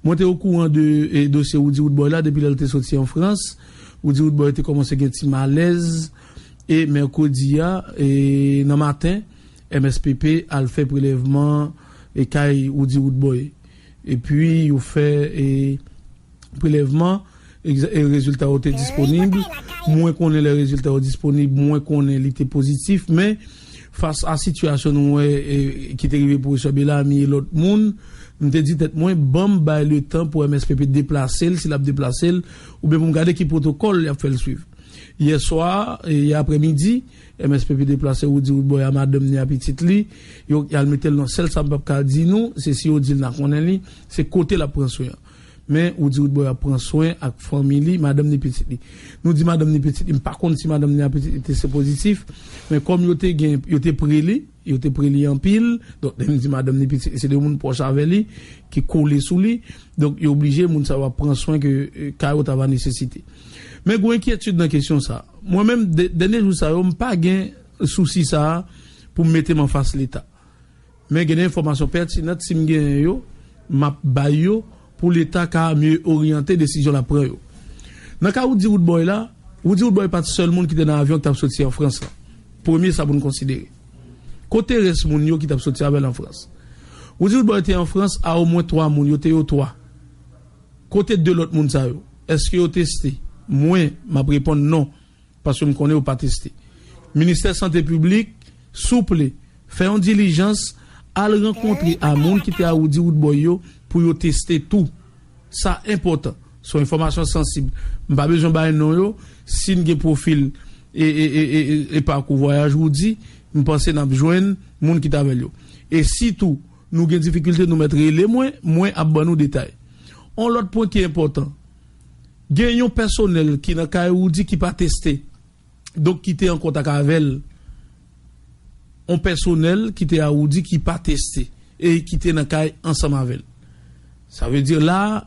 Mwen te okouran de dosye Roody Roodboy la depi lè l te soti an Frans. Roody Roodboy te kòmanse gen ti malèz e mèkredi a nan maten, MSPP al fè prelèvman kay Roody Roodboy. Epi yo fè prelèvman. Egzè, Rezilta yo te disponib. Mwen konnen lè rezilta yo disponib, mwen konnen li te pozitif. Men, fas a sitiyasyon nou wè ki te rive pwofesè Belami e lòt moun, m te di tèt mwen, ban m bay letan pou MSPP deplase l, si l ap deplase l, oubyen pou m gade ki pwotokòl y ap fè l suiv. Yèswa, yè aprè midi, MSPP deplase Roody Roodboy a madanm ni a pitit li. Yo, y al mete l nan sèl. Sa m p ap ka di nou, se si yo di l n a konnen li, se kote l ap pran swen an. Men, ou di Widboy ap pran swen ak fanmi li, madanm ni pitit li. Nou di madanm ni pitit li, m pa konn si madanm ni a pitit li te sepozitif, men kòm yo te gen, yo te pre li, yo te pre li anpil, donk lè m di madanm ni pitit li, se de moun pwòch avè li, ki kole sou li, donk yo oblije, moun sa yo ap pran swen ke ka yo ta va nesesite. Men gwo enkyetid nan kesyon sa. Mwen menm, dènye jou sa yo, m pa gen sousi sa a pou m mete m anfas Leta. Men gen de enfòmasyon pètinant si m genyen yo, m ap bay yo pou leta ka mye oryante desizyon l ap pran yo. Nan ka Woody Woodboy la, Woody Woodboy pa t sèl moun ki te nan avyon ki t ap soti an Frans lan. Premye sa pou n konsidere. Kote rès moun yo ki t ap soti avè l an Frans? Woody Woodboy te an Frans a omwen twa moun, yo te yo twa. Kote de lòt moun sa yo? Èske yo teste? Mwen, m ap reponn non. Paske m konnen yo pa teste. Ministè sante piblik souple fè yon dilijans al rankontre a moun ki te awoudi woodboy yo pou yo teste tou. Sa enpòtan. Son enfòmasyon sansib. M pa bezwen bay non yo. Si n gen pwofil e pakou vwayaj Roody, m panse n ap jwenn moun ki t avè l yo. E si tou nou gen difikilte nou mèt rele mwen, mwen ap ban nou detay. On lòt pwen ki enpòtan. Gen yon pèsonèl ki nan kay Roody ki pa teste, donk ki te an kontak avè l. On pèsonèl ki te a Roody ki pa teste e ki te nan kay ansanm avè l. Sa vle di la a,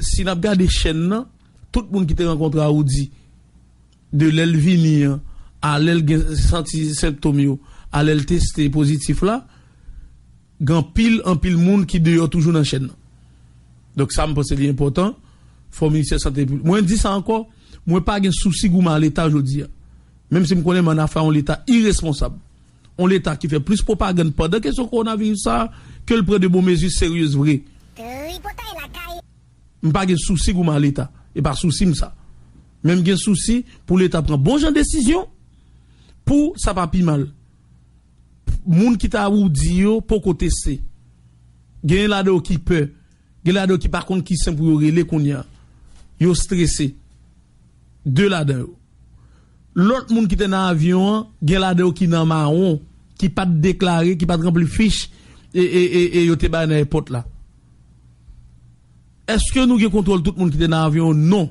si n ap gade chèn nan, tout moun ki te rankontre a Roody, de lè l vini an a lè l gen santi senptom yo a lè l teste pozitif la, Gen anpil, anpil moun ki deyò toujou nan chèn nan. Donk sa m panse li enpòtan, fò Ministè Sante Piblik. Mwen di sa ankò, mwen pa gen sousi goumen a Leta jodi a. Menm si m konnen men an afè a yon Leta iresponsab. Yon Leta ki fè plis pwopagann pandan kesyon kowonaviris sa a ke l pran de bon mezi seryez vre. M pa gen sousi goumen a Leta. E pa sousi m sa. Men m gen sousi pou Leta pran bon jan desizyon pou sa pa pi mal. Moun ki ta woudi yo poko teste. Genyen ladan yo ki pè. Gen ladan yo ki pa konn ki sen pou yo rele kounye a. Yo strese. De ladan yo. Lòt moun ki te nan avyon an, gen ladan yo ki nan mawon, ki pa t deklare, ki pa t ranpli fich e yo te bay nan èpòt la. Èske nou gen kontwòl tout moun ki te nan avyon? Non.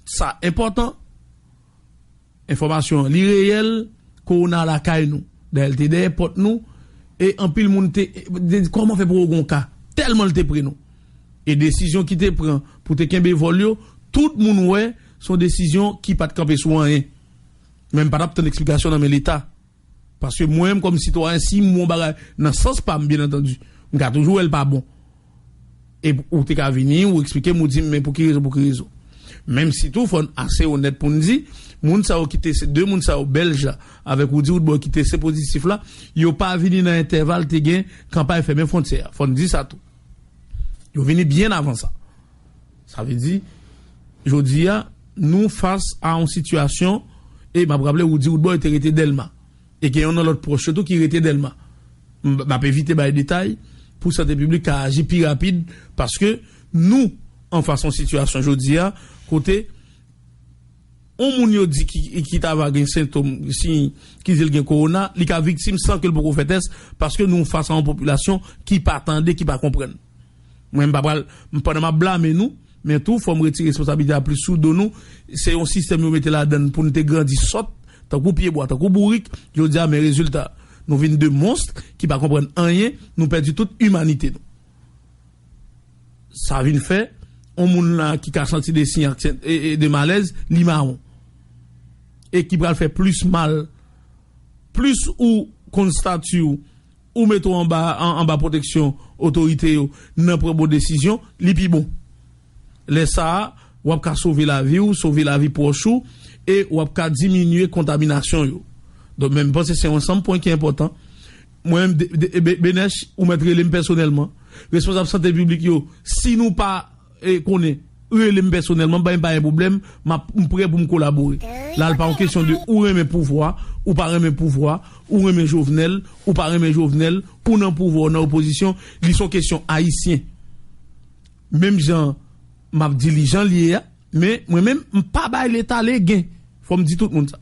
Sa enpòtan. Enfòmasyon an li reyèl, kowona lakay nou. Dayè l te dèyè pòt nou e anpil moun te di kòman fè pou wè w gon ka tèlman l te pre nou. E desizyon ki te pran pou te kenbe vòl yo tout moun wè son desizyon ki pat kanpe sou anyen. Men m pa tap tann eksplikasyon nan men leta. Paske mwen menm kòm sitwayen si m wè yon bagay nan sans pa m byen antandi, m ka toujou wè l pa bon. E ou te ka vini, ou eksplike m, ou di m men pou ki rezon, pou ki rezon. Menm si tou fò n ase onèt pou n di, moun sa yo ki te se 2 moun sa yo Bèlj la avèk Woudi Woodboy ki teste pozitif la, yo pa vini nan entèval te gen kanpay fèmen fwontyè a. Fò n di sa tou. Yo vini byen avan sa. Sa vle di, jodi a, nou fas a yon sitiyasyon, e m ap raple Woody Woodboy te rete Dèlma, e gen yon nan lòt pwòch yo tou ki rete Dèlma. M ap evite bay detay pou sante piblik ka aji pi rapid, paske nou an fas yon sitiyasyon jodi a, kote yon moun yo di ki ta va gen sentom, siy, ki di l gen kowona, li ka viktim san ke l poko fè tès, paske nou fas a yon popilasyon ki pa tande, ki pa konprann. Mwen m pa pral, pandan m ap blame nou, men tou fò m retire responsabilite a plis sou do nou. Se yon sistèm yo mete ladan n pou n te grandi sòt, tankou pyebwa, tankou bourik, jodi a men rezilta. Nou vin de monst ki pa konprann anyen, nou pèdi tout imanite nou. Sa vin fè, yon moun la ki ka santi de siy ak sent de malèz, li mawon. E ki pral fè plis mal, plis ou konn stati w, Ou met ou anba anba pwoteksyon otorite yo nan pran bon desizyon, li pi bon. Lè sa a, w ap ka sove lavi ou, sove lavi pwòch ou e w ap ka diminye kontaminasyon yo. Donk men m panse se yon ansanm pwen ki enpòtan. Mwen menm de, de, Benèch, ou mèt rele m pèsonèlman, responsab sante piblik yo, si nou pa. konnen rele m pèsonèlman bay m pa gen pwoblèm map m prè pou m kolabore la l pa yon kesyon de ou renmen pouvwa ou pa renmen pouvwa ou renmen jovenel ou pa renmen jovenel ou nan pouvwa ou nan opozisyon li son kesyon ayisyen menm jan map di li jan l ye a men mwen menm m pa bay leta legen fò m di tout moun sa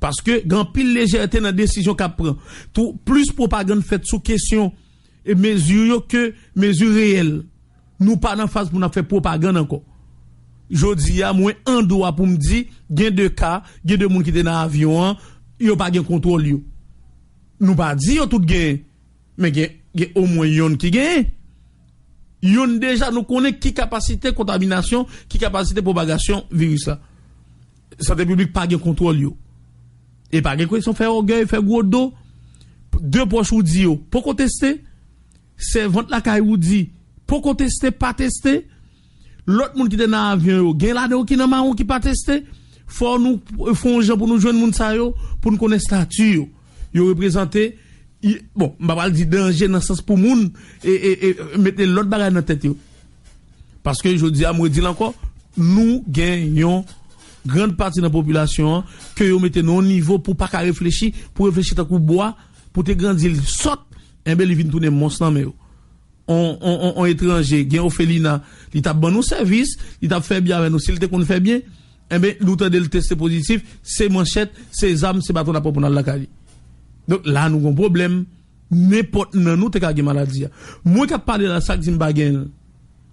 paske gen anpil lejète nan desizyon kap pran tou plis pwopagann fèt sou kesyon mezi yo ke mezi reyèl. Nou pa nan faz pou n ap fè pwopagann ankò. Jodi a, mwen an dwa pou m di, gen de ka, gen de moun ki te nan avyon an, yo pa gen kontwòl yo. Nou pa di yo tout genyen, men gen gen omwen yonn ki genyen. Yonn deja nou konnen ki kapasite kontaminasyon, ki kapasite pwopagasyon viris la. Sante piblik pa gen kontwòl yo. E pa gen kesyon fè ògèy, fè gwo do. De pwòch ou di yo poko teste. Sèvant lakay Roody poko teste pa teste, lòt moun ki te nan avyon yo gen ladan yo ki nan mawon ki pa teste, fò nou fè yon jan pou nou jwenn moun sa yo pou n konnen stati yo. Yo reprezante, bon m pa pral di danje nan sans pou moun mete lòt bagay nan tèt yo. Paske jodi a m redi l ankò, nou gen yon grand pati nan popilasyon an ke yo mete nan yon nivo pou pa ka reflechi, pou reflechi tankou bwa, pou te grandi l sòt. Enben li vin tounen mons nan men yo. On, on, on, on etranje gen ofelina, li t ap ban nou sèvis, li t ap fè byen avè nou si l te konn fè byen. Enben, nou tande l teste pozitif, se manchèt, se zam, se baton n ap pran pou n al lakay li. Donk, la a nou gen yon pwoblèm. Nenpòt nan nou te ka gen maladi a. Mwen k ap pale la, sa k di m pa gen l?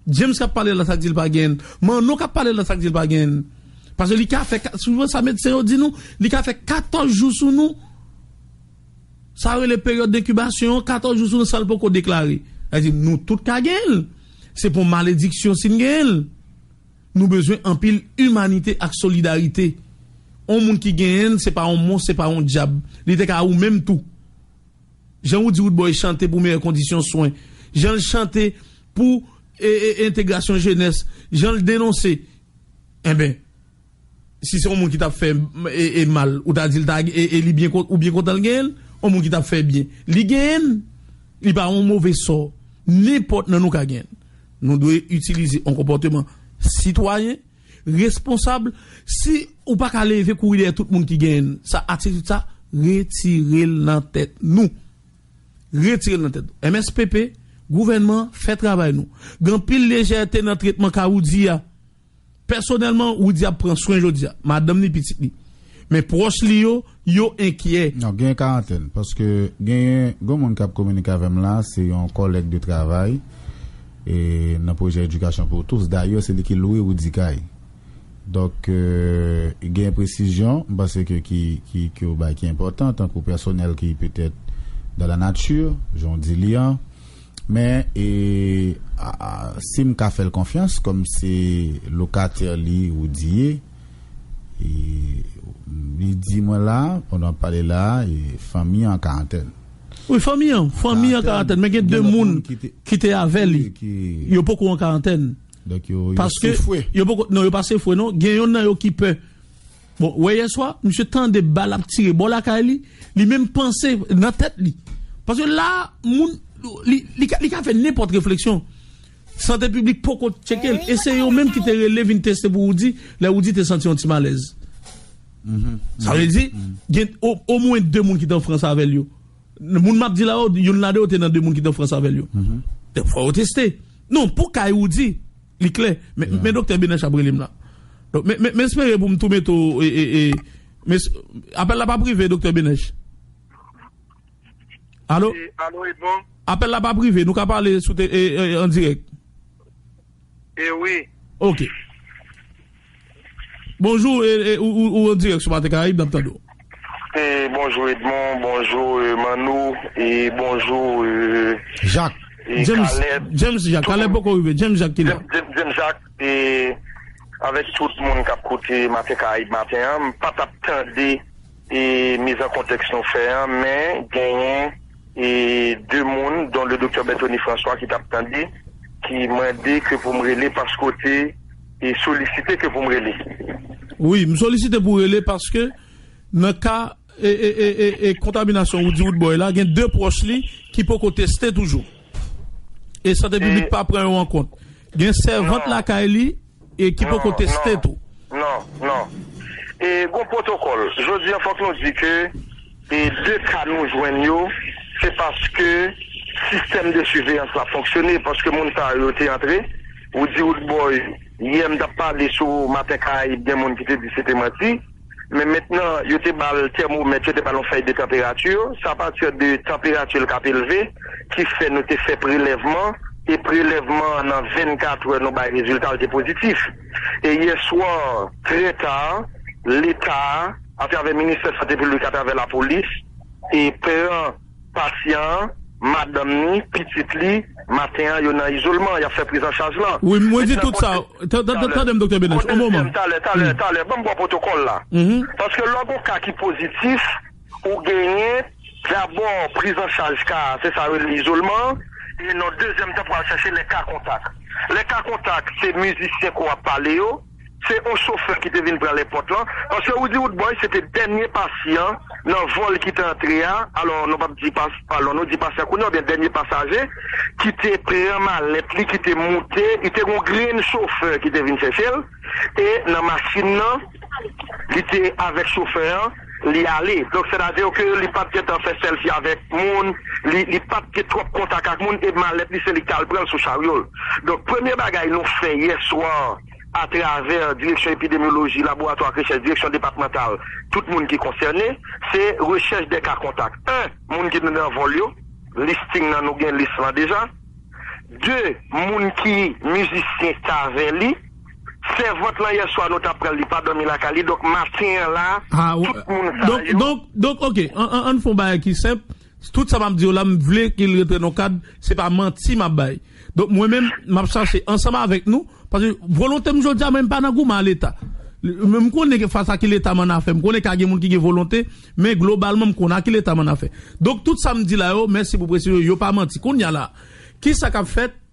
James k ap pale la, sa k di l pa gen l? Manno k ap pale la, sa k di l pa gen l? Pase li ka fè, souvan sa medsen yo di nou, li ka fè katòz jou sou nou. Sa yo rele peryòd denkibasyon an, 14 jou sou yon sal poko deklare. Sa vle di nou tout ka genyen l. Se pa yon malediksyon si n genyen l. Nou bezwen anpil imanite ak solidarite. Yon moun ki genyen l se pa yon mons, se pa yon dyab. Li te ka ou menm tou. Jan Woody Woodboy chante pou meyè kondisyon swen, jan l chante pou entegrasyon jenès, jan l denonse. Enben. Si se yon moun ki tap fè e mal ou ta dil ta e li byen ou byen kontanl genyenl yon moun ki tap fè byen li genyenn li pa yon move sò nenpòt nan nou ka genyenl nou dwe itilize yon konpòteman sitwayen responsab si ou paka leve kouri dèyè tout moun ki genyenn sa atitid sa retirel nan tèt nou retirel nan tèt nou mspp gouvènman fè travay nou gen anpil lejète nan tretman ka ou di a. Pèsonèlman, Woody ap pran swen jodi a, madanm li, pitit li. Men pwòch li yo, yo enkyè. Non, genyen karantèn. Paske genyen, gon moun k ap kominike avè m la, se yon kòlèg de travay e nan pwojè Edikasyon pou Tous. Dayè, se li ki lwe Woody kay. Donk, genyen presizyon, m panse ke ki, ki, ke ou bay ki enpòtan, tankou pèsonèl ki petèt dan la nati, jan w di li an. Men e sim ka fèl konfyans kòm se lokatè li ou di e li di mwen la pandan wap pale la e fanmi an karantèn. Wi fanmi an, fanmi an karantèn men gen 2 moun ki te avè li yo poko an karantèn paske yo pa sefwe non gen yonn nan yo ki pè. Bon, ou wè yèswa, misye tande bal ap tire bò lakay li, li menm panse nan tèt li. Paske la a, moun, li ka fè nenpòt refleksyon. Sante piblik poko tcheke l, e se yo menm ki te rele vin teste pou Woody, lè Woody te santi yon ti malèz. Sa vle di, gen omwen 2 moun ki te an Frans avè l yo. Moun m ap di la yo, youn ladan yo te nan 2 moun ki te an Frans avè l yo. Donk fò yo teste. Non, pou kay Woody. Li klè. Men Doktè Benach ap rele m la. M espere pou m tou mete w e. Apèl la pa prive Doktè Benach? Alo? Alo Edmond? Apèl la pa prive, nou ka pale an dirèk? E wi. Ok. Bonjou ou an dirèk sou maten karayib nap tande w. Bonjou Edmond, bonjou Manno e bonjou Caleb, James Jacques, Caleb poko rive, James Jacques ki la. James Jacques e avèk tout moun kap koute maten karayib maten an, m patap tande. mizankontèks nou fè an, men genyen 2 moun don le Doktè Berthony François ki tap tande ki mande ke pou m rele paske w te solisite ke pou m rele. Wi, m solisite pou w rele paske nan ka kontaminasyon Woody Woodboy la gen 2 pwòch li ki poko teste toujou. E sante piblik pa pran yo an kont. Gen sèvant lakay li. E ki poko teste tou. Non, non. E gon pwotokòl. Jodi an fòk nou di ke e 2 ka nou jwenn yo, se paske sistèm de siveyans la fonksyone, paske moun sa yo te antre. Woody Woodboy, yè m t ap pale sou Maten Karayib gen moun ki te di se te manti. men mentnan yo te ba l tèmomèt, yo te ba l yon fèy de tanperati, se apati de tanperati l k ap elve ki fè nou te fè prelèvman e prelèvman an nan 24 è nou bay rezilta l te pozitif e yèswa trè ta leta a atravè ministè sante piblik atravè lapolis e pran Pasyan an, madanm ni, pitit li, maten an yo nan izolman, y ap fè prizanchaj lan. Wi, mwen di tout sa. Tande m Doktè Benach, on moman. Talè, talè, talè, ban m ba w pwotokòl la. Paske lò gen yon ka ki pozitif, ou genyen dabò prizanchaj ka a, se sa yo rele izolman an, e nan dezyèm tan pou al chache lè ka kontak. Lè ka kontak, se mizisyen ke w ap pale yo. se on chofè ki te vin pran lèpòt lan, paske Roody Roodboy se te dènye pasyan nan vòl ki te antre a, alò nou pap di pas, alò nou di pasyan kounye a oubyen dènye pasaje ki te pran malèt li ki te moute, li te gen on grenn chofè ki te vin chèche l e nan machin nan li te avèk chofè an. Li ale. Donk sè ta diw ke li pap gentan fè sèlfi avèk moun, li li pap gen twòp kontak ak moun e malèt li se li ki tal pranl sou charyol. Donk premye bagay nou fè yèswa a travè direksyon epidemyoloji, laboratwa ak rechèch, direksyon depatmantal, tout moun ki konsène, se rechèch de ka kontak. 1 moun ki te nan vòl yo, listing nan nou gen lis lan deja. 2 moun ki mizisyen kave li. Sèvant lan yèswa nou tap pranl li pa dòmi lakay li donk maten an la tout moun sa yo. Donk donk ok ann fon bagay ki senp tout sa map diw la m vle ke l rantre nan kad se pa manti map bay donk mwen menm map chache ansanm avèk nou paske volonte m jodia mwen m pa nan goumen a leta m konnen ke fas a ki leta m annafè m konnen ka gen moun ki gen volonte men globalman m konnen a ki leta m annafè donk tout sa m di la yo mèsi pou presizyon yo pa manti kounya la kisa kap fèt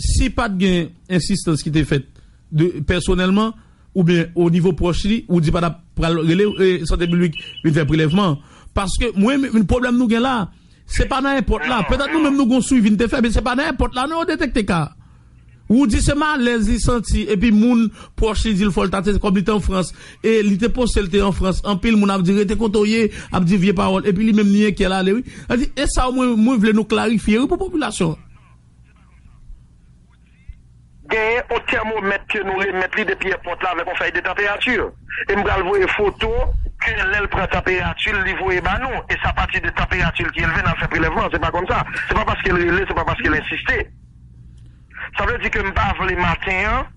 Si pat gen ensistans ki te fèt de pèsonèlman oubyen o nivo pwòch li, ou di pa tap pral rele sante piblik vin fè prelèvman an. Paske mwen menm pwoblèm nou gen la, se pa nan èpòt la. Petèt nou menm nou gon swivi n te fè men se pa nan èpòt la non yo detekte ka a. Ou di se malèz li santi epi moun pwòch li di l fò l ta teste kòm li te an Frans e li te poste l te an Frans anpil moun ap di rete kote w ye, ap di vye pawòl epi li menm li enkyè l ale wi. Sa di e sa mwen vle nou klarifye wi pou popilasyon an. Genyen yon tèmomèt ke nou remèt li depi èpòt la avèk yon fèy de tanperati. E m pral voye foto ke lè l pran tanperati l li voye ba nou. E se apati de tanperati l ki elve n al fè prelèvman an. Se pa konn sa. Se pa paske l rele, se pa paske l ensiste. Sa vle di ke m pa vle maten an.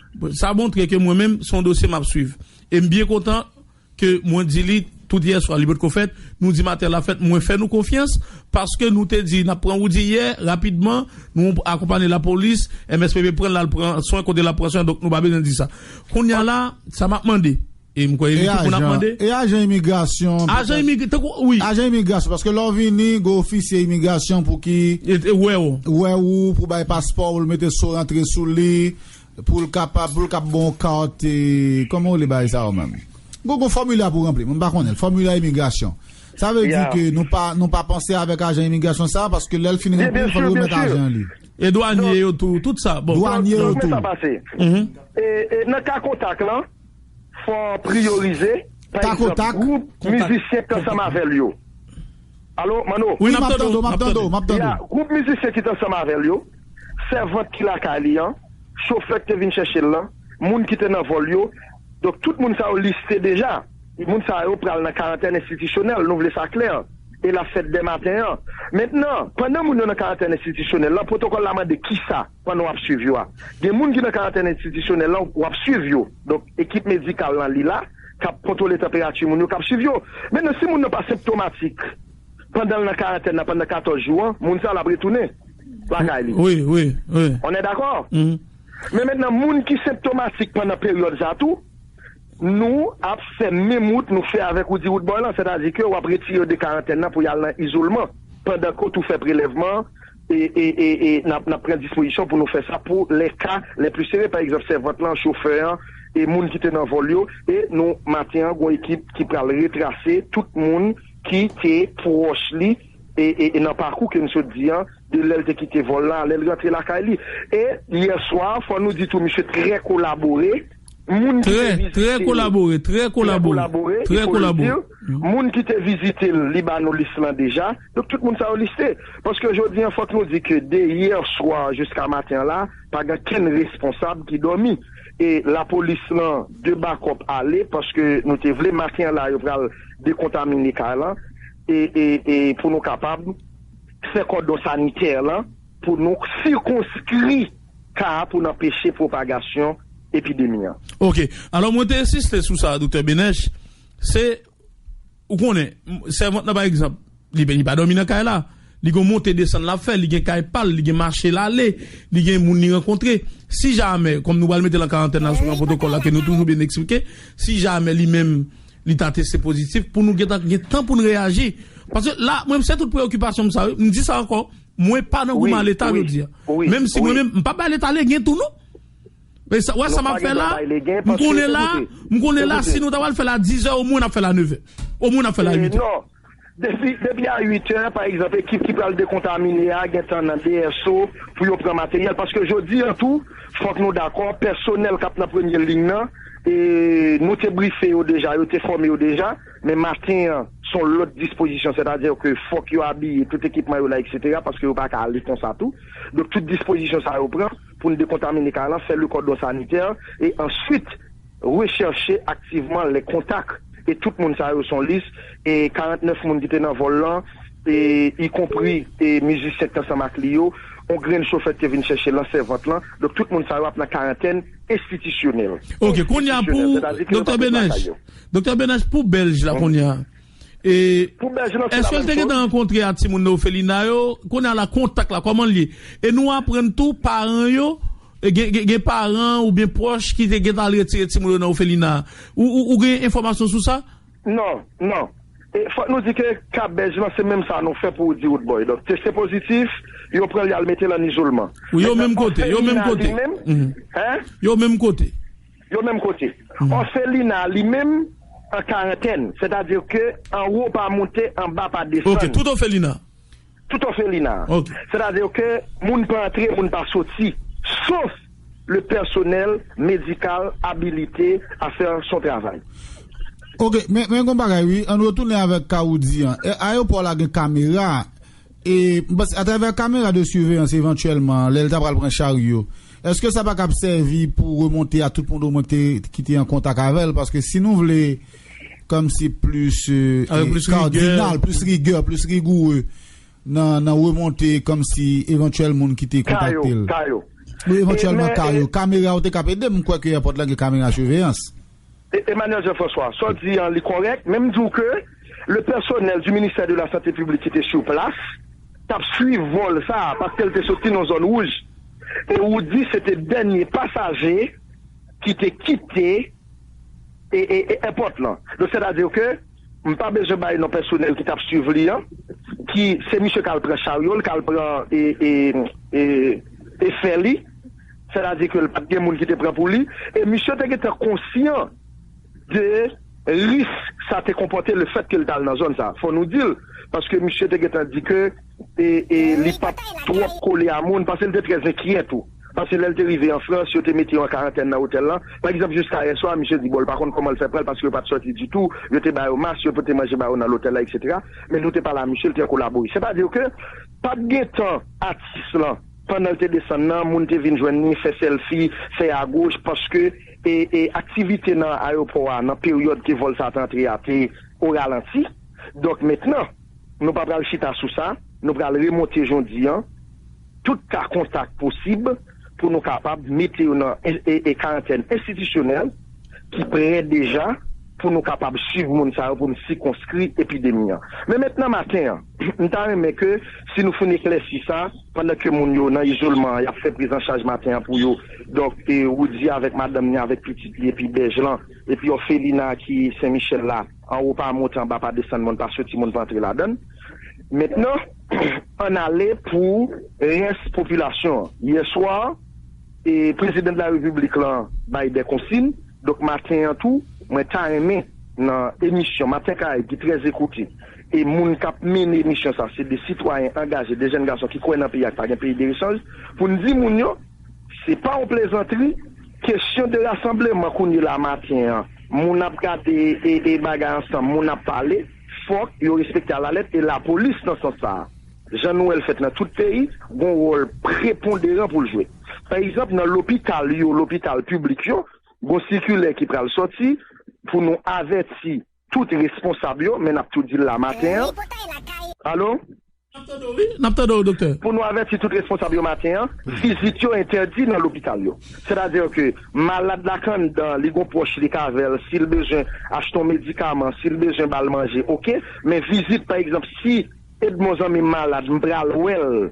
Sa montre ke mwen menm se yon dosye m ap swiv. E m byen kontan ke mwen di li tout yè swa li potko fèt, nou di maten l ap fèt, mwen fè nou konfyans paske nou te di n ap pran Roody yè, rapidman nou akonpanye lapolis, MSPP pran l al pran swen kote l ap pran swen donk nou pa bezwen di sa. Kounya la, sa m ap mande. E m kwè e li ki pou n ap mande. E ajan imigrasyon. Ajan imig tankou wi. Ajan imigrasyon paske lè w vini gen ofisye imigrasyon pou ki. Wè w. Wè ou pou bay paspò ou l mete sou rantre sou li pou l kapab pou l ka ba w kat e kòman w rele bagay sa yo menm. Gou gou fòmilè pou ranpli m pa konnen l fòmilè imigrasyon. Sa vle di ke nou pa nou pa panse avèk ajan imigrasyon sa paske lè l fin ranpli l fò l remèt ajan li. E dwanye yo tou tout sa bon. Dwanye yo tou. Donk men sa pase. E nan ka kontak lan. Fò priyorize, pa egzanp, gwoup mizisyen k t ansanm avè l yo. Alo, Manno? Wi, m ap tande w, m ap tande w, m ap tande w. Ya, gwoup mizisyen ki t ansanm avè l yo, sèvant ki lakay li an, chofè k te vin chèche l lan, moun ki te nan vòl yo. Donk, tout moun sa yo liste deja. Moun sa yo pral nan karantèn enstitisyonèl, nou vle sa klè, e l ap fèt dè maten an. Mentnan, pandan moun yo nan karantèn enstitisyonèl lan, pwotokòl la mande kisa? Pandan w ap swiv yo a. Gen moun ki nan karantèn enstitisyonèl la w ap swiv yo. Donk, ekip medikal lan li la, k ap kontwole tanperati moun yo, k ap swiv yo. Mennan, si moun nan pa senptomatik pandan l nan karantèn nan pandan 14 jou an, moun sa a l ap retounen lakay li. On è dakò? Men mennan, moun ki senptomatik pandan peryòd sa a tou, nou ap fè menm wout nou fè avèk ou di wout bò lan, sètadi ke w ap retire yo de karantèn nan pou y al nan izolman pandan ke w tou fè prelèvman an. n ap pran dispozisyon pou nou fè sa pou lè ka lè pli sere, pa egzanp sèvant lan, chofè an, e moun ki te nan vòl yo, e nou maten an gon ekip ki pral retrase tout moun ki te pwòch li e nan pakou ke n sot di an, de lè l te kite vòl lan a lè l rantre lakay li. E yèswa, fò nou di tou misye trè kolabore, moun ki te vizite l, trè kolabore, trè kolabore, e fò nou di l, moun ki te vizite l, li ba nou lis lan deja. Donk tout moun sa yo liste. Paske jodi an fòk nou di ke de yè swa jiska maten an la, pa gen kenn responsab ki dòmi. E lapolis lan de bakòp ale paske nou te vle maten an la yo pral dekontamine kay lan e e pou nou kapab fè kòdon sanitè lan pou nou sikonskri ka a pou n anpeche pwopagasyon epidemi an. Ok. Alò mwen te ensiste sou sa a Doktè Benech, se. Ou konnen, sèvant nan pa egzanp, li vini pa dòmi nan kay la. Li gen yon monte desann l ap fè, li gen kay pa l, li gen mache l ale, li gen moun li rankontre. Si jamè, kòm nou pral mete l an karantèn la sou yon pwotokòl la ke nou toujou byen eksplike, si jamè li menm li ta teste pozitif, pou nou gentan gen tan pou n reyaji. Paske la, mwen m se tout preyokipasyon m sa yo, m di sa ankò, mwen pa nan goumen a Leta jodi a. Menm si mwen menm, m pa bay Leta legen tou non. Wè sa m ap fè la, m konnen la, m konnen la si nou ta pral fè l a dizè omwen n ap fè l a nevè, omwen n ap fè l a uitè. Non, depi a uitè pa egzanp ekip ki pral dekontamine a gen tan nan BSO pou yo pran materyèl paske jodi an tou fòk nou dakò pèsonèl k ap nan premye liy nan nou te brife yo deja, yo te fòme yo deja men maten an s on lòt dispozisyon sètadi ke fòk yo abiye tout ekipman yo la eksetera paske yo pa ka ale konsa tou donk tout dispozisyon sa yo pran. pou n dekontamine kay lan, fè le kòdon sanitè e answit rechèche aktivman lè kontak e tout moun sa yo son lis e 49 moun ki te nan vòl lan e y konpri e mizisyen ki t ansanm ak li yo, on grenn chofè ki te vin chèche lan sèvant lan, donk tout moun sa yo ap nan karantèn enstitisyonèl. Ok, kounya pou Doktè Benèch, Doktè Benèch pou Bèlj la kounya Pou bèje lan se la menm chòz. Eske l te gentan rankontre a timoun nan ofelina yo? Kounye a la kontak la kòman l ye? E nou aprann tou paran yo gen paran oubyen pwòch ki te gentan al retire timoun yo nan ofelina a. Ou gen enfòmasyon sou sa? Non, non. E fòk nou di ke ka bèj lan se menm sa nou fè pou ou di Woodboy. Donk teste pozitif, yo pran l y al mete l an izolman. Yo menm kote, yo menm kote. Yo menm kote. Yo menm kote. Òfelina a li menm an karantèn, sètadi ke an wo pa moute, an ba pa desann. Ok, tout òfelina a. Tout òfelina a. Ok. Sètadi ke moun pa antre, moun pa soti, sof le pèsonèl medikal abilite a fè son travay. Ok, men gen yon bagay wi, an nou retounen avèk ka ou di an. Ayewopò la gen kamera. E, m panse, atravè kamera de surveillance evantyèlman, lè l ta pral pran charyo, èske sa pa kab sèvi pou remonte a tout moun omwen k te, ki te an kontak avè l? Paske si nou vle kòmsi plis kardinal, plis rigè, plis rigoure nan remonte kòmsi evantyèl moun ki te kontakte l. Ka yo, ka yo. Evantyèlman ka yo. Kamera yo te kab ede m, m kwè ke èpòt la gen kamera surveillance. Emmanuel Jean François, sa w di an li kòrèk, men m di w ke le pèsonèl du ministère de la santé publique ki te sur place t ap swiv vòl sa a paske l te soti nan zòn wouj e ou di se te dènye pasaje ki te kite èpòt lan donk sètadi ke M pa bezwen bay non pèsonèl ki t ap swiv li an, ki se misye k al pran charyo l, k al pran efè li, sètadi ke l pa t gen moun ki te pran pou li, e misye te gentan konsyan de risk sa te konpòte lefètke l t al nan zòn sa a. Fò nou di l, paske misye te gentan di ke. e li pa t twòp kole a moun, paske l te trè enkyè tou. Paske lè l te rive an Frans, yo te mete yo an karantèn nan otèl lan. Pa egzanp, jiska yè swa, misye di bon l pa konn kòman l fè pral, paske yo pa t sòti ditou, yo te ba yo mas, yo pote manje ba yo nan lotèl la, eksetera. Men nou te pale a misye, l te kolabore. Sètadi ke pa t gen tan atis lan, pandan l te desann nan, moun te vin jwenn li, fè sèlfi, fè agoch, paske e aktivite nan ayewopò a, nan peryòd ke vòl sa a te antre a, te oralanti. Donk mentnan. Nou pa pral chita sou sa, nou pral remonte jondi an tout ka kontak posib pou nou kapab mete yo nan karantèn enstitisyonèl ki prè deja pou nou kapab swiv moun sa yo pou n sikonskri epidemi an. Men mèt nan maten an, m ta renmen ke si nou foun eklèsi sa, pandan ke moun yo nan izolman an y ap fè prizanchaj maten an pou yo, donk Roudy avèk madanm ni avèk pitit li epi Bèj lan epi òfelina ki Sen Michèl la. Anwo pa monte, anba pa desann, moun pa soti, moun pa antre ladan l. Mentnan, ann ale pou rès popilasyon an. Yè swa, Prezidan de la Repiblik lan bay dè konsin, donk maten an tou, mwen ta renmen nan emisyon Maten Karayibe ki trè zekoute, e moun k ap mennen emisyon sa se 2 sitwayen angaje, 2 jèn gason ki kwè nan peyi a, ki pa gen peyi derechanj, pou n di moun yo, se pa yon plezantri, Kesyon de rasanbleman kounye la maten an, moun ap gade e bagay ansanm, moun ap pale, fòk yo respekte alalèt e lapolis nan sans sa a, jan nou wè l fèt nan tout peyi, gon wòl preponderan pou l jwe. Pa egzanp, nan lopital yo, lopital piblik yo, gon sikilè ki pral sòti pou nou avèti Tout responsab yo men nap tou dil la maten an allo. Nap tande w wi, nap tande w doktè. Pou nou avèti tout responsab yo maten an, vizit yo entèdi nan lopital yo. Sètadi ke malad la k anndan li gon pwòch li k avè l si l bezwen achte yon medikaman, si l bezwen ba l manje ok, men vizit pa egzanp si Edmon zanmi m malad m pral wè l,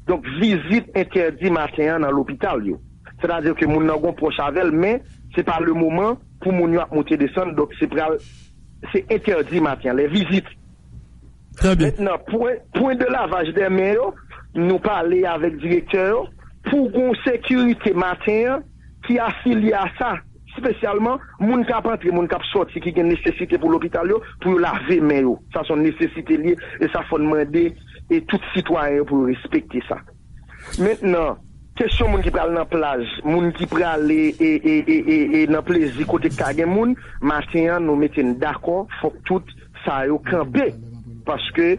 donk vizit entèdi maten an nan lopital yo. Sètadi ke moun nan gon pwòch avè l men se pa lemoman. pou moun yo ap moute desann donk se pral se entèdi maten an lè vizit Trè byen. Mentnan pwen pwen de lavaj dè men yo nou pale avèk direktè yo pou gon sekirite maten an ki afilye a sa spesyalman moun kap antre moun kap sòti ki gen nesesite pou lopital yo pou yo lave men yo sa son nesesite li ye e sa fòn mande e tout sitwayen yo pou yo respekte sa. Mentnan, kesyon moun ki pral nan plaj, moun ki prale e nan plezi kote k ka gen moun, maten an nou mete n dakò fòk tout sa yo kanpe paske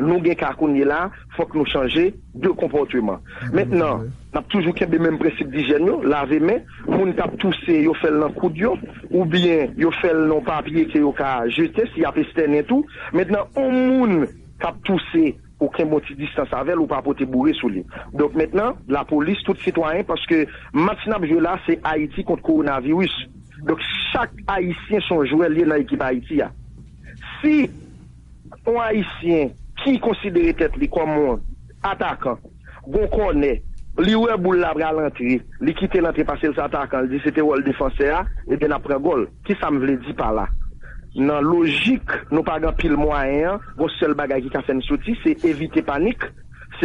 nou gen ka kounye la fòk nou chanje de konpòteman. Mentnan, n ap toujou kenbe menm prensip dijyèn yo, lave men, moun k ap touse yo fè l nan koud yo oubyen yo fè l nan yon papye ke yo ka jete si y ap estènen tou. Mentnan, yon moun k ap touse. Ou kenbe yon ti distans avè l ou pa pote boure sou li. Donk mentnan lapolis tout sitwayen paske match n ap jwe la se Ayiti kont kowonaviris. Donk chak ayisyen son jwè l ye nan ekip Ayiti a. Si yon ayisyen ki konsidere tèt li kòm yon atakan gon kònè li wè boul la pral antre li kite l antre pase l se atakan li di se te wòl defansè a ebyen n ap pran gòl. Ki sa m vle di pa la? Nan lojik nou pa gen anpil mwayen an, gon sèl bagay ki ka fè n soti, se evite panik, se.